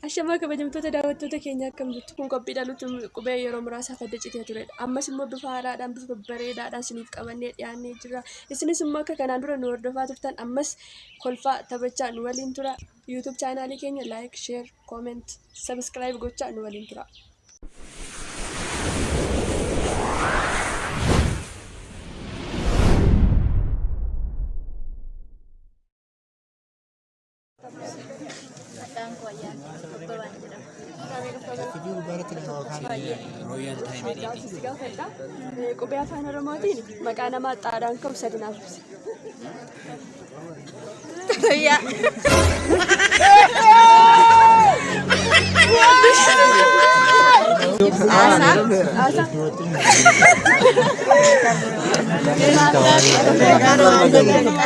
Ashamaa kabajamtoota daawwattoota keenya akkam jirtu kun qophiidhaan nuti qubee yeroo muraasaaf adda citee turedha. Ammas immoo bifa haaraadhaan bifa babbareedaadhaan isiniif qabannee dhiyaannee jirra. Isinis immoo akka kanaan dura nu hordofaa turtan ammas kolfaa taphachaa nu waliin tura. YouTube chaanaalii keenya like, share, comment, subscribe gochaa nu waliin tura. Maqaan koo Ayyaanee Abbabaan jedhama. Royal Time Editing. gaafadha. Qubee afaan Oromootiin maqaa namaa xaadhaan ka'u sadi naaf ibsi.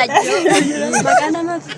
Maqaa namaa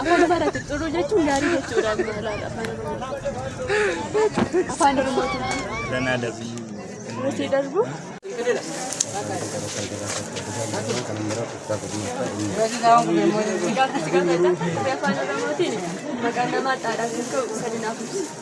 Afaan Amaaraatti xuruu jechuun gaarii jechuudha. Afaan Oromootiin. Danaa darbii. Nuti darbu. Gaaffichi gaafa isaa afaan Oromootiin maqaan namaa xaadhaa kan ka'u sadinaaf ibsa.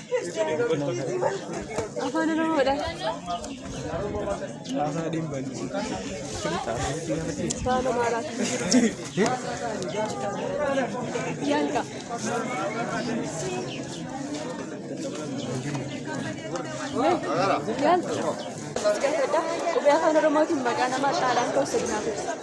Afaan Oromoodha. Afaan Amaaraati. Yaalqa. Yaalqa. Qubee afaan Oromootiin maqaa namaa caalaan ta'u sirnaa ta'e.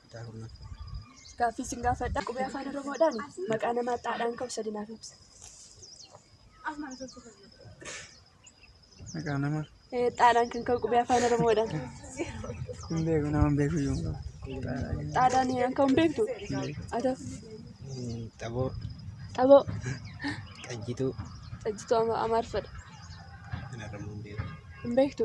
kutaa kurnaffaa. Gaaffii isin gaafadha. Qubee afaan Oromoodhaan maqaa namaa xaadhaan ka'u sadi naaf ibsa. Maqaa nama Eh, Xaadhaan kan ka'u qubee afaan Oromoodhaan. hin beeku nama hin beeku iyyuu hin qabu. Xaadhaan kan ka'u hin beektu? Ata Xaboo, xaboo qajjituu, xajjituu ama- amaarfadha. kan argamu hin beeku. Hin beektu?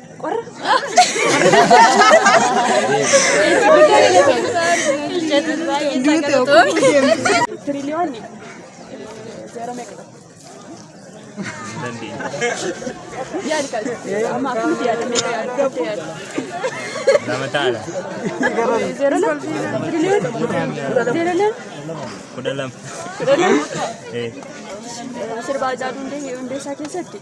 Sirbaa Haacaaluu Hundeessaa keessatti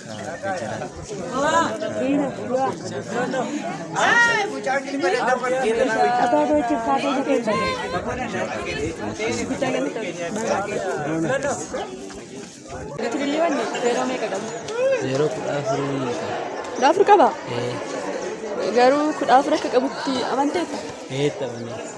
Yeroo kudha afurii Kudha afur qaba? Garuu kudha afur akka qabutti amanteetta? eetta banee.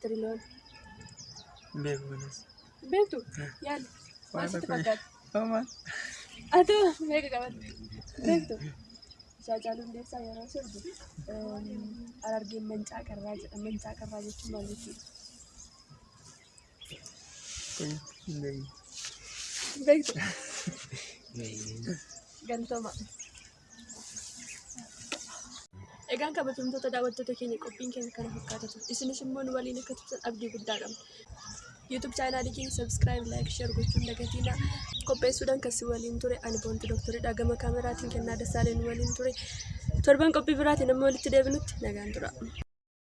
Tiriloon. Beeku kanas. Beektu? Yaali. Maal sitti fakkaata? Homaa. Atoo meeqa qabata? Beektu? Isaa caaluu hundeessaa yeroo sirbu Harargeen mancaa qarraa jedha. Mancaa qarraa jechuun maal jechuudha? Kun hin beeku. Beektu? Galtoma. Egaan kabajamtoota daawwattoota keenya qophiin keenya kana fakkaata ture. Isinis immoo nu waliin akka turtan abdii guddaa qabna. YouTube chaanaalii keenya subscribe, like, share gochuun dagatiina. Qopheessuudhaan kan si waliin ture ani boontu dooktoridha. Gama kaameraatiin kennaa dasaalee nu waliin ture. Torban qophii biraatiin amma walitti deebinutti nagaan tura.